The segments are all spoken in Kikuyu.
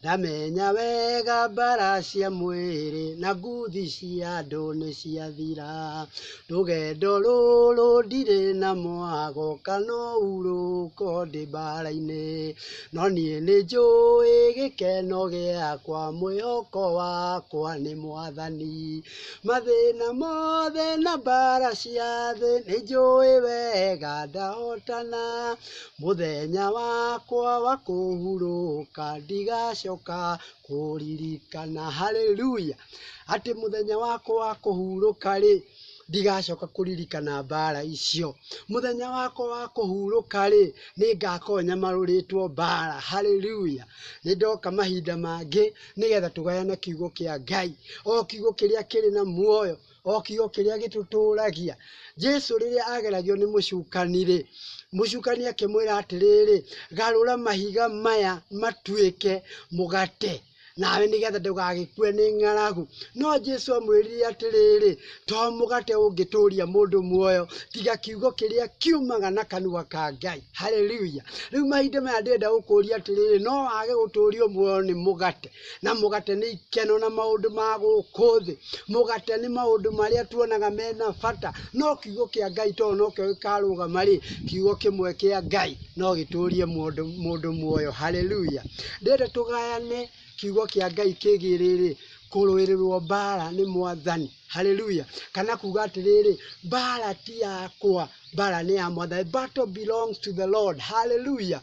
Ndamenya wega mbara cia mwĩrĩ na nguthi cia andũ nĩciathira, Rũgendo rũrũ ndirĩ na mwago kana ũhurũko ndĩ mbara-inĩ, No niĩ nĩnjũĩ gĩkeno gĩakwa mwĩhoko wakwa nĩ mwathani, Mathĩna mothe na mbara cia thĩ nĩnjũĩ wega ndahotana, Mũthenya wakwa wa kũhurũka ndigacoka kũririkana. Hallelujah! Atĩ mũthenya wakwa wa kũhurũka rĩ, ndigacoka kũririkana mbara icio. Mũthenya wakwa wa kũhurũka rĩ, nĩ ngakorwo nyamarũrĩtwo mbara. Hallelujah! Nĩ ndoka mahinda mangĩ nĩgetha tũgayane kiugo kĩa Ngai. O kiugo kĩrĩa kĩrĩ na muoyo o kiugo kĩrĩa gĩtũtũũragia. Jesu rĩrĩa ageragio nĩ mũcukani-rĩ, mũcukani akĩmwĩra atĩrĩrĩ, garũra mahiga maya matuĩke mũgate nawe nĩgetha ndũgagĩkue nĩ ng'aragu. No Jesu amwĩrire atĩrĩrĩ, to mũgate ũngĩtũria mũndũ muoyo, tiga kiugo kĩrĩa kiumaga na kanua ka Ngai. Hallelujah. Rĩu mahinda maya ndĩrenda gũkũria atĩrĩrĩ, no wage gũtũrio muoyo nĩ mũgate? na mũgate nĩ ikeno na maũndũ ma gũkũ thĩ. Mũgate nĩ maũndũ marĩa tuonaga mena bata, no kiugo kĩa Ngai tondũ nokĩo gĩkarũgama rĩ, kiugo kĩmwe kĩa Ngai no gĩtũrie mũndũ mũndũ muoyo. Hallelujah. Ndĩrenda tũgayane kiugo kĩa Ngai kĩgiĩ rĩrĩ, kũrũĩrĩrwo mbaara nĩ Mwathani. Hallelujah. Kana kuuga atĩrĩrĩ, mbaara ti yakwa, mbaara nĩ ya Mwathani. The battle belongs to the Lord. Hallelujah.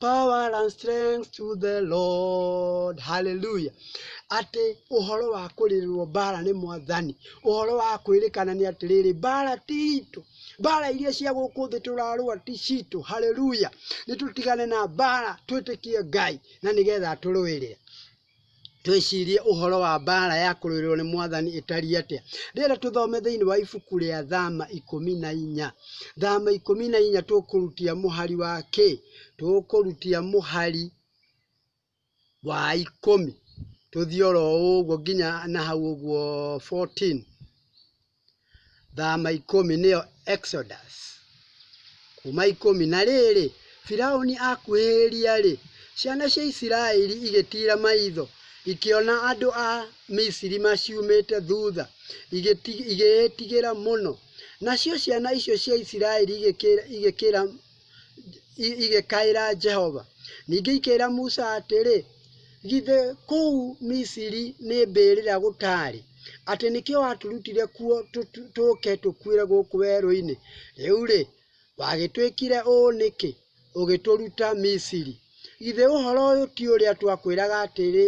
power and strength to the Lord. Hallelujah. Atĩ ũhoro wa kũrĩrĩrwo mbara nĩ mwathani, ũhoro wa kwĩrĩkana nĩ atĩrĩrĩ, mbara ti itũ, mbara iria cia gũkũ thĩ tũrarũa ti citũ. Hallelujah. Nĩ tũtigane na mbara, twĩtĩkie Ngai na nĩgetha atũrũĩrĩre. Twĩcirie ũhoro wa mbaara ya kũrũĩrĩrũo nĩ Mwathani ĩtariĩ atĩa. Rĩera tũthome thĩinĩ wa ibuku rĩa Thama ikũmi na inya. Thama ikũmi na inya tũkũrutia mũhari wa kĩ? Tũkũrutia mũhari wa ikũmi. Tũthiĩ oro ũguo nginya na hau ũguo 14. Thama ikũmi, nĩyo Exodus, kuuma ikũmi. Na rĩrĩ, Firauni akuhĩrĩria-rĩ, ciana cia Isiraeli igĩtiira maitho, ikĩona andũ a Misiri maciumĩte thutha, igĩĩtigĩra mũno. Nacio ciana icio cia Isiraeli igĩkĩra igĩkaĩra Jehova. Ningĩ ikĩra Musa atĩrĩ, githĩ kũu Misiri nĩ mbĩrĩra gũtaarĩ, atĩ nĩkĩo watũrutire kuo tũke tũkuĩre gũkũ werũ-inĩ? Rĩu-rĩ, wagĩtwĩkire ũũ nĩkĩ, ũgĩtũruta Misiri? Githĩ ũhoro ũyũ ti ũrĩa twakwĩraga atĩrĩ,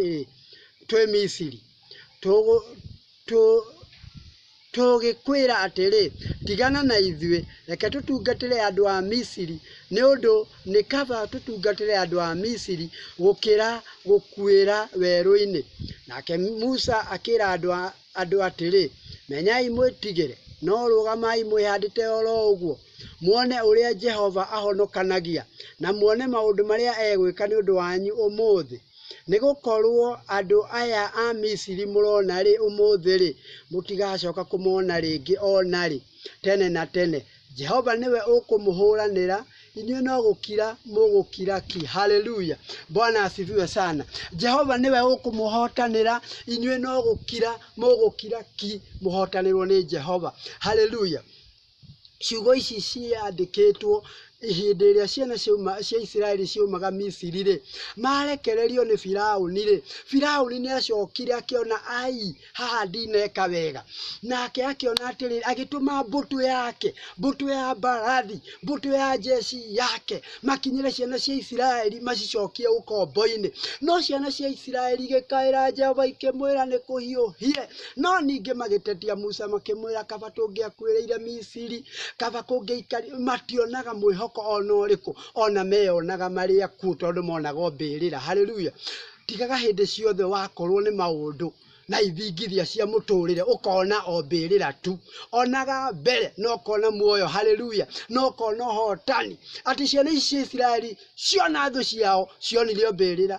twĩ Misiri? Tũgĩkwĩra atĩrĩ, 'Tigana na ithuĩ! Reke tũtungatĩre andũ a Misiri, nĩ ũndũ nĩ kaba tũtungatĩre andũ a Misiri gũkĩra gũkuĩra werũ-inĩ. Nake Musa akĩra andũ atĩrĩ, 'Menyai mwĩtigĩre, no rũgamai mwĩhandĩte o ro ũguo, muone ũrĩa Jehova ahonokanagia, na muone maũndũ marĩa egwĩka nĩ ũndũ wanyu ũmũthĩ. Nĩ gũkorũo andũ aya a Misiri mũrona ũmũthĩ-rĩ, mũtigacooka kũmona rĩngĩ o na rĩ, tene na tene. Jehova nĩwe ũkũmũhũranĩra, inyuĩ no gũkira mũgũkira ki. Haleluya! Bwana asifiwe sana. Jehova nĩwe ũkũmũhotanĩra, inyuĩ no gũkira mũgũkira ki, mũhotanĩrũo nĩ Jehova. Haleluya! Ciugo ici ciandĩkĩtwo hĩndĩ ĩrĩa ciana cia Isiraeli ciaumaga Misiri-rĩ, marekererio nĩ Firaũni-rĩ, Firaũni nĩ acokire akĩona aai, haha ndineka wega. Nake akĩona atĩrĩ, agĩtũma mbũtũ yake, mbũtũ ya mbarathi, mbũtũ ya njeci yake, makinyĩre ciana cia Isiraeli macicokie ũkombo-inĩ. No ciana cia Isiraeli igĩkaĩra Jehova ikĩmwĩra nĩ kũhiũhire. No ningĩ magĩtetia Musa makĩmwĩra, kaba tũngĩakuĩrĩire Misiri, kaba kũngĩaikari, mationaga mwĩhoko o na ũrĩkũ, o na meyonaga marĩ akuũ tondũ monaga o mbĩrĩra. Haleluya! Tigaga hĩndĩ ciothe wakorũo nĩ maũndũ na ithingithia cia mũtũũrĩre ũkona o mbĩrĩra tu. Onaga mbere na ũkona muoyo. Haleluya! Na ũkona ũhootani. Atĩ ciana ici cia Isiraeli ciona thũ ciao, cionire o mbĩrĩra.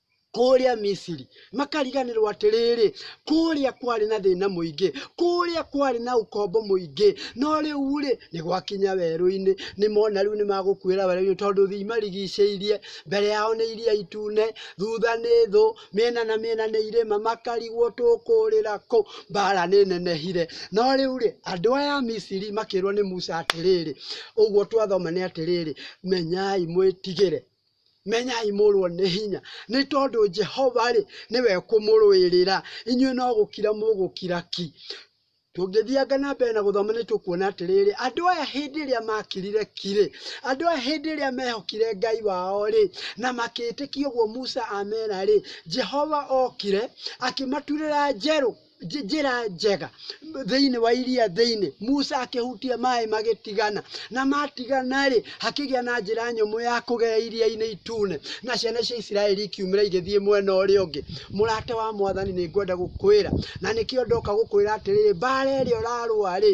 kũrĩa Misiri, makariganĩrwo atĩrĩrĩ, kũrĩa kwarĩ na thĩna mũingĩ, kũrĩa kwarĩ na ũkombo mũingĩ, no rĩu-rĩ, nĩ gwakinya werũ-inĩ, nĩ mona rĩu nĩ magũkuĩra werũ-inĩ tondũ thĩ imarigicĩirie, mbere yao nĩ iria itune, thutha nĩ thũ, mĩena na mĩena nĩ irĩma, makarigwo tũkũrĩra kũ, mbara nĩ nenehire. No rĩu-rĩ, andũ aya a Misiri makĩrwo nĩ Musa atĩrĩrĩ, ũguo twathoma nĩ atĩrĩrĩ, menyai mwĩtigĩre Menyai mũrũo nĩ hinya, nĩ tondũ Jehova-rĩ, nĩwe ũkũmũrũĩrĩra. Inyuĩ no gũkira mũgũkira ki. Tũngĩthianga na mbere na gũthoma nĩ tũkuona atĩrĩrĩ, andũ aya hĩndĩ ĩrĩa makirire ki-rĩ, andũ aya hĩndĩ ĩrĩa mehokire Ngai wao-rĩ, na makĩtĩkia ũguo Musa amera-rĩ, Jehova okire akĩmaturĩra njerũ. nj- njĩra njega thĩinĩ wa iria thĩinĩ musa akĩhutia maĩ magĩtigana na matigana-rĩ hakĩgĩa na njĩra nyũmũ ya kũgera iria-inĩ itune na ciana cia isiraeli ikiumĩra igĩthiĩ mwena ũrĩa ũngĩ mũrata wa mwathani nĩ ngwenda gũkwĩra na nĩkĩo ndoka gũkwĩra atĩrĩrĩ mbara ĩrĩa ũrarũa-rĩ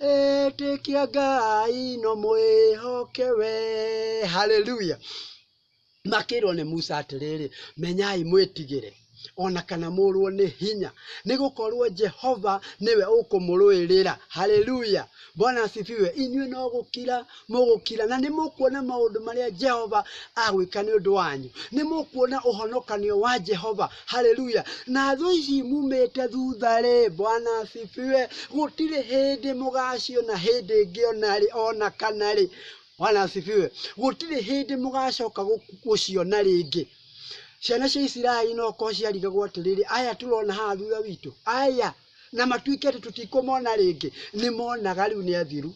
Ĩtĩkia Ngai no mwĩhoke we. Haleluya! Makĩĩrwo nĩ Musa atĩrĩrĩ, Menyai mwĩtigĩre, o na kana mũũrwo nĩ hinya, nĩ gũkorwo Jehova nĩwe ũkũmũrũĩrĩra. Haleluya! Bwana asifiwe. Inyuĩ no gũkira mũgũkira, na nĩ mũkuona maũndũ marĩa Jehova agwĩka nĩ ũndũ wanyu. Nĩ mũkuona ũhonokanio wa Jehova. Haleluya! Na thũ ici mumĩte thutha-rĩ, Bwana asifiwe, gũtirĩ hĩndĩ mũgaciona hĩndĩ ĩngĩ o na rĩ, o na kana rĩ. Bwana asifiwe. Gũtirĩ hĩndĩ mũgacoka gũciona rĩngĩ. Ciana cia Isiraeli no korwo ciarigagwo atĩrĩrĩ, aya tũrona haha thutha witũ, aya, na matuĩke atĩ tũtikũmona rĩngĩ, nĩ monaga rĩu nĩ athiru.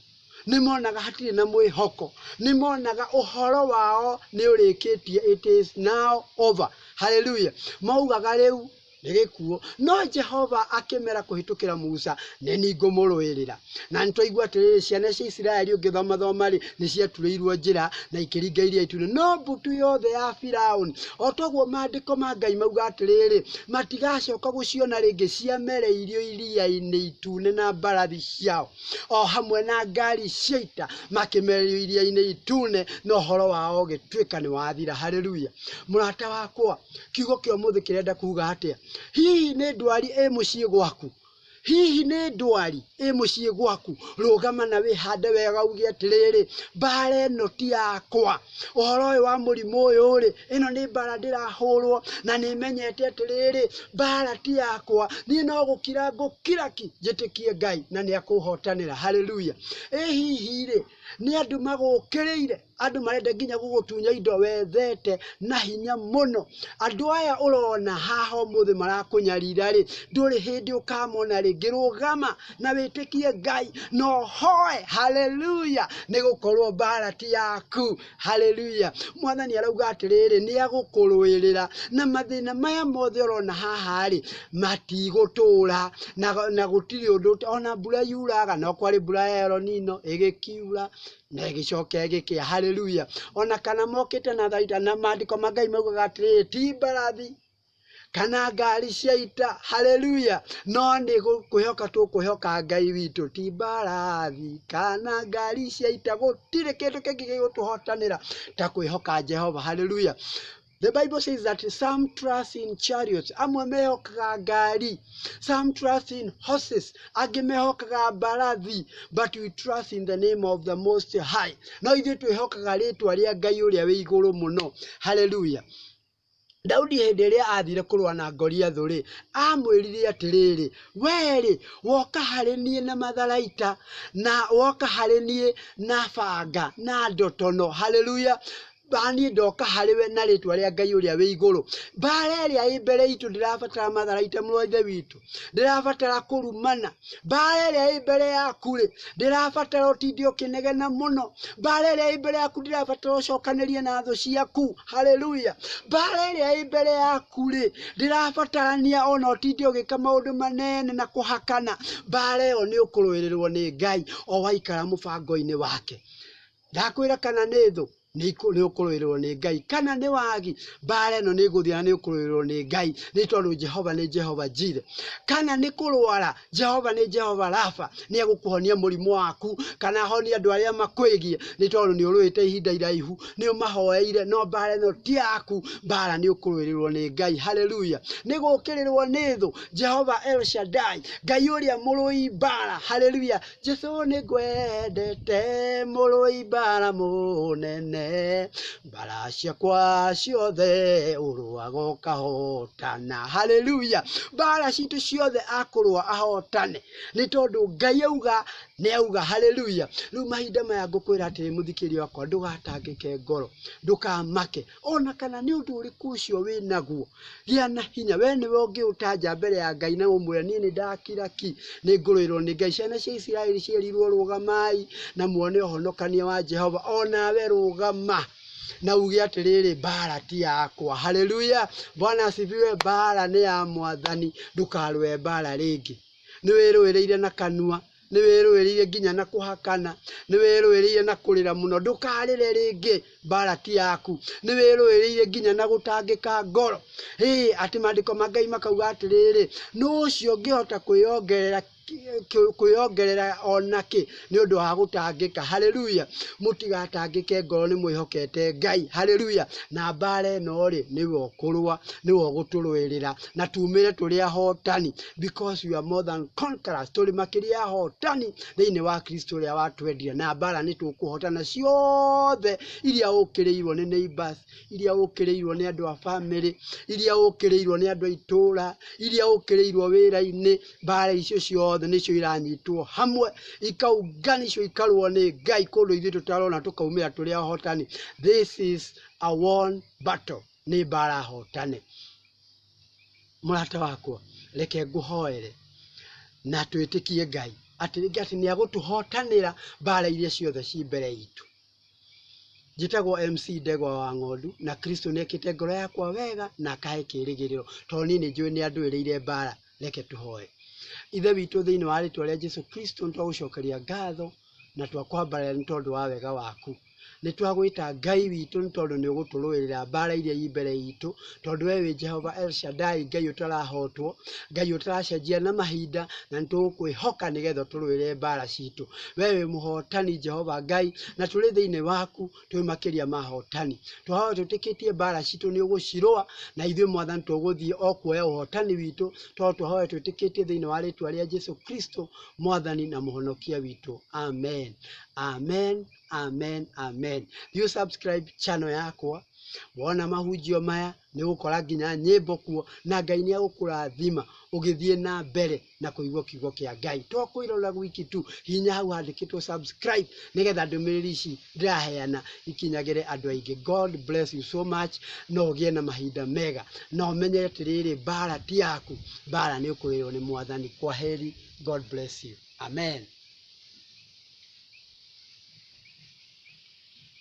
Nĩ monaga hatirĩ na mwĩhoko. Nĩ monaga ũhoro wao nĩ ũrĩkĩtie, it is now over. Hallelujah! Maugaga rĩu nĩ gĩkuũ. No Jehova akĩmera kũhĩtũkĩra Musa, Nĩ niĩ ngũmũrũĩrĩra. Na nĩ twaigua atĩrĩrĩ, ciana cia Isiraeli ũngĩthomathoma rĩ, nĩ ciaturĩirwo njĩra na ikĩringa iria itune. No mbũtũ yothe ya Firaũni, o toguo maandĩko ma Ngai mauga atĩrĩrĩ, matigacoka gũciona rĩngĩ ciamereirio iria-inĩ itune na mbarathi ciao. o hamwe na ngaari cia ita makĩmeerio iria-inĩ itune, na ũhoro wao ũgĩtuĩka nĩ wathira. Haleluya! Mũrata wakwa, kiugo kĩa ũmũthĩ kĩrenda kuuga atĩa? Hihi nĩ ndwari ĩ mũciĩ gwaku? Hihi nĩ ndwari ĩ mũciĩ gwaku? Rũgama na wĩhande wega uuge atĩrĩrĩ, Mbaara ĩno ti yakwa. Ũhoro ũyũ wa mũrimũ ũyũ-rĩ, ĩno nĩ mbaara ndĩrahũũrwo, na nĩ menyete atĩ rĩrĩ, mbaara ti yakwa, niĩ no gũkira ngũkira ki, njĩtĩkie Ngai na nĩ akũũhootanĩra. Hallelujah! Ĩ hihi rĩ, nĩ andũ magũũkĩrĩire, andũ marenda nginya gũgũtunya indo wethete na hinya mũno? Andũ aya ũrona haha ũmũthĩ marakũnyarira rĩ, ndũrĩ hĩndĩ ũkamona rĩngĩ. Rũgama na wĩtĩkie Ngai na ũhoe. Hallelujah! Nĩ gũkorwo mbaara ti yaku. Haleluya! Mwana nĩ arauga atĩrĩrĩ, nĩ agũkũrũĩrĩra na mathĩna maya mothe ũrona haha-rĩ, matigũtũra na, na gũtirĩ ũndũ ona mbura yuraga, no kwarĩ mbura ya Elonino ĩgĩkiura na ĩgĩcoka ĩgĩkĩa. Haleluya! Ona kana mokĩte na tharaita, na maandĩko ma Ngai maugaga atĩrĩrĩ, ti mbarathi kana ngari cia ita haleluya no nĩ gũ- kwĩhoka tũkwĩhoka ngai witũ ti mbarathi kana ngari cia ita gũtirĩ kĩndũ kĩngĩ gĩgũtũhotanĩra ta kwĩhoka jehova haleluya The Bible says that some trust in chariots, amwe mehokaga ngari, some trust in horses, angĩ mehokaga mbarathi, but we trust in the name of the Most High. No ithuĩ twĩhokaga rĩtwa rĩa Ngai ũrĩa wĩ igũrũ mũno. Hallelujah. Daudi hĩndĩ ĩrĩa aathiire kũrũa na Goliathũ-rĩ, aamwĩrire atĩrĩrĩ, Wee-rĩ, woka harĩ niĩ na matharaita, na woka harĩ niĩ na banga na ndotono, haleluya, na niĩ ndoka harĩ we na rĩtwa rĩa Ngai ũrĩa wĩ igũrũ. Mbaara ĩrĩa ĩ mbere itũ ndĩrabatara matharaita mũrũ wa Ithe witũ. ndĩrabatara kũrumana mbara ĩrĩa ĩ mbere yaku rĩ ndĩrabatara ũtinde ũkĩnegena mũno mbara ĩrĩa ĩ mbere yaku ndĩrabatara ũcokanĩrie na thũ ciaku haleluya mbara ĩrĩa ĩ mbere yaku rĩ ndĩrabatarania ona ũtinde ũgĩka maũndũ manene na kũhakana mbara ĩyo nĩ ũkũrũĩrĩrwo nĩ ngai o waikara mũbango-inĩ wake Ndakwĩra kana nĩ thũ, nĩũkũrũĩrĩrũo nĩ Ngai, kana nĩ wagi, mbaara ĩno nĩĩgũthira na nĩũkũrũĩrĩrũo nĩ Ngai, nĩ tondũ Jehova nĩ Jehova Jireh. Kana nĩ kũrũara, Jehova nĩ Jehova Rapha, nĩegũkũhonia mũrimũ waku, kana ahonie andũ arĩa makwĩgiĩ, nĩ tondũ nĩũrũĩte ihinda iraihu, nĩũmahoeire, no mbaara ĩno ti yaku, mbaara nĩũkũrũĩrĩrũo nĩ Ngai. Haleluya! Nĩ gũũkĩrĩrũo nĩ thũ, Jehova El Shaddai, Ngai ũrĩa mũrũi mbaara. Haleluya! Jesu nĩ ngwendete mũrũi mbara mũnene, mbara ciakwa ciothe ũrũaga ũkahotana. Haleluya! Mbara citũ ciothe akũrũa ahotane nĩ tondũ Ngai auga nĩ auga. Haleluya! Rĩu mahinda maya ngũkwĩra atĩrĩ mũthikĩria wakwa ndũgatangĩke ngoro, ndũkamake. O na kana nĩ ũndũ ũrĩkũ ũcio wĩ naguo, gĩa na hinya. Wee nĩwe ũngĩũtanja mbere ya Ngai na ũmwĩre, 'Niĩ nĩ ndakira ki. Nĩ ngũrũĩrũo nĩ Ngai. Ciana cia Isiraeli cierirũo, 'Rũgamai na muone ũhonokia wa Jehova. O nawe rũgama, na uuge atĩrĩrĩ, 'Mbaara ti yakwa. Haleluya! Bwana asifiwe! Mbaara nĩ ya Mwathani. Ndũkarũe mbaara rĩngĩ. Nĩ wĩrũĩrĩire na kanua. Nĩwĩrũĩrĩire nginya na kũhakana, nĩwĩrũĩrĩire na kũrĩra mũno, ndũkarĩre rĩngĩ, mbaara ti yaku. Nĩwĩrũĩrĩire nginya na gũtangĩka ngoro, ĩ atĩ maandĩko ma Ngai makauga atĩrĩrĩ, nũ ũcio ũngĩhota kwĩongerera kwĩongerera o nakĩ nĩ ũndũ wa gũtangĩka? Haleluya! Mũtigatangĩke ngoro nĩ mwĩhokete Ngai. Haleluya! Na mbaara ĩno-rĩ, nĩwe ũkũrũa, nĩwe ũgũtũrũĩrĩra. na tumĩre tũrĩ ahotani because we are more than conquerors. Tũrĩ makĩria ahotani thĩinĩ wa Kristo ũrĩa watwendire na mbara nĩ tũkũhotana ciothe iria ũkĩrĩirwo nĩ neighbors, iria ũkĩrĩirwo nĩ andũ a family, iria ũkĩrĩirwo nĩ andũ a itũũra, iria ũkĩrĩirwo wĩra-inĩ, mbara icio ciothe nĩcio iranyitwo hamwe ikaunganishwo ikarũo nĩ Ngai kũndũ ithuĩ tũtarona tũkaumĩra tũrĩ ahotani. This is a won battle. Nĩ mbara hotane. Mũrata wakwa, reke ngũhoere na twĩtĩkie Ngai atĩ rĩngĩ atĩ nĩ agũtũhotanĩra mbara iria ciothe ci mbere itũ. Njĩtagwo MC Ndegwa wa Ng'ondu na Kristo nĩ ekĩte ngoro yakwa wega na akahe kĩĩrĩgĩrĩro tondũ niĩ nĩ njũĩ nĩ andũĩrĩire mbara. Reke tũhoe. Ithe witũ thĩinĩ wa rĩtwa rĩa Jesu Kristo nĩ twagũcokeria ngatho. na twakwambarĩra nĩ tondũ wa wega waku. Nĩ twagwĩta Ngai witũ nĩ tondũ nĩ ũgũtũrũĩrĩra mbaara iria i mbere itũ, tondũ we wĩ Jehova El Shaddai, Ngai ũtarahotwo, Ngai ũtaracenjia na mahinda, na nĩ tũgũkwĩhoka nĩgetha ũtũrũĩrĩre mbaara citũ. We wĩ mũhotani Jehova Ngai, na tũrĩ thĩinĩ waku. twĩ makĩria ma ahotani. Twahoya twĩtĩkĩtie mbaara citũ nĩ ũgũcirũa, na ithuĩ Mwathani tũgũthiĩ o kuoya ũhotani witũ, tondũ twahoya twĩtĩkĩtie thĩinĩ wa rĩĩtwa rĩa Jesu Kristo, Mwathani na Mũhonokia witũ. Amen. Amen. Amen. Amen. Thiĩ ũ subscribe channel yakwa, wona mahunjio maya nĩ ũgũkora nginya nyĩmbo kuo, na Ngai nĩ egũkũrathima ũgĩthiĩ na mbere. na kũigua kiugo kĩa ngai to kwĩrora gwiki tu hinya hau handĩkĩtwo subscribe nĩgetha ndũmĩrĩri ici ndĩraheana ikinyagĩre andũ aingĩ god bless you so much no ũgĩe na mahinda mega na ũmenye atĩrĩrĩ mbara ti yaku mbara nĩ ũkũrĩrwo nĩ mwathani kwa heri god bless you amen